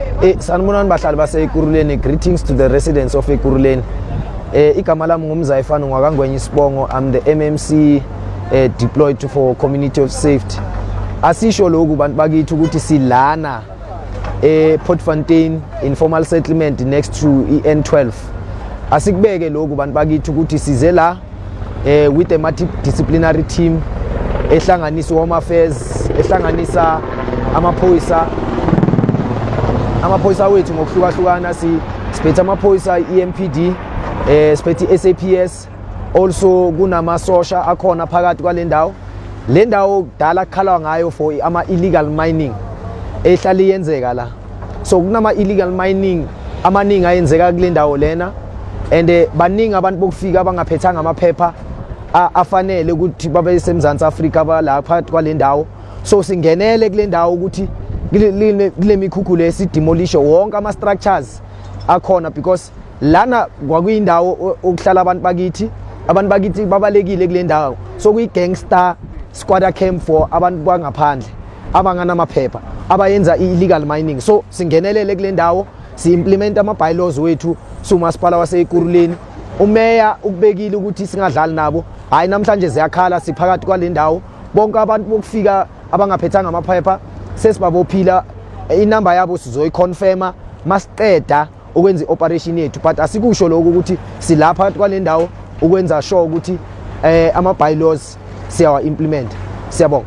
Eh sanibonani bahlali baseKuruleni greetings to the residents of eKuruleni. Eh igama lami ngumzayifana ngwakangwenye isibongo I'm the MMC eh, deployed to for community of safety. Asisho lokhu bantu bakithi ukuthi silana eh Portfontein informal settlement next to iN12. Asikubeke lokhu bantu bakithi ukuthi size la eh with a multidisciplinary team ehlanganisa home affairs ehlanganisa amaphoyisa amaphoyisa wethu ngokuhlukahlukana si siphethe amaphoyisa EMPD eh siphethe SAPS also kunamasosha akhona phakathi kwalendawo lendawo kudala kukhalwa ngayo for ama illegal mining ehlali yenzeka la so kunama-illegal mining amaningi ayenzeka kule ndawo lena and eh, baningi abantu bokufika abangaphethanga amaphepha afanele ukuthi babe semzansi afrika abala phakathi kwale ndawo so singenele kule ndawo ukuthi kule mikhukhu le sidemolishe wonke ama-structures akhona because lana kwakuyindawo okuhlala abantu bakithi abantu bakithi babalekile kule ndawo so kuyi-gangster squatter camp for abantu bangaphandle abanganamaphepha abayenza i-illegal mining so singenelele kule ndawo si-implimenta ama-bylaws wethu siwumasipala waseyikuruleni umeya ukubekile ukuthi singadlali nabo hhayi namhlanje ziyakhala siphakathi kwale ndawo bonke abantu bokufika abangaphethanga amaphepha sesibabophila inamba yabo sizoyiconfirma masiqeda ukwenza i-operation yethu but asikusho lokho ukuthi silapha phakathi kwale ndawo ukwenza sure ukuthi um eh, ama-bylaws siyawa-implimenta siyabonga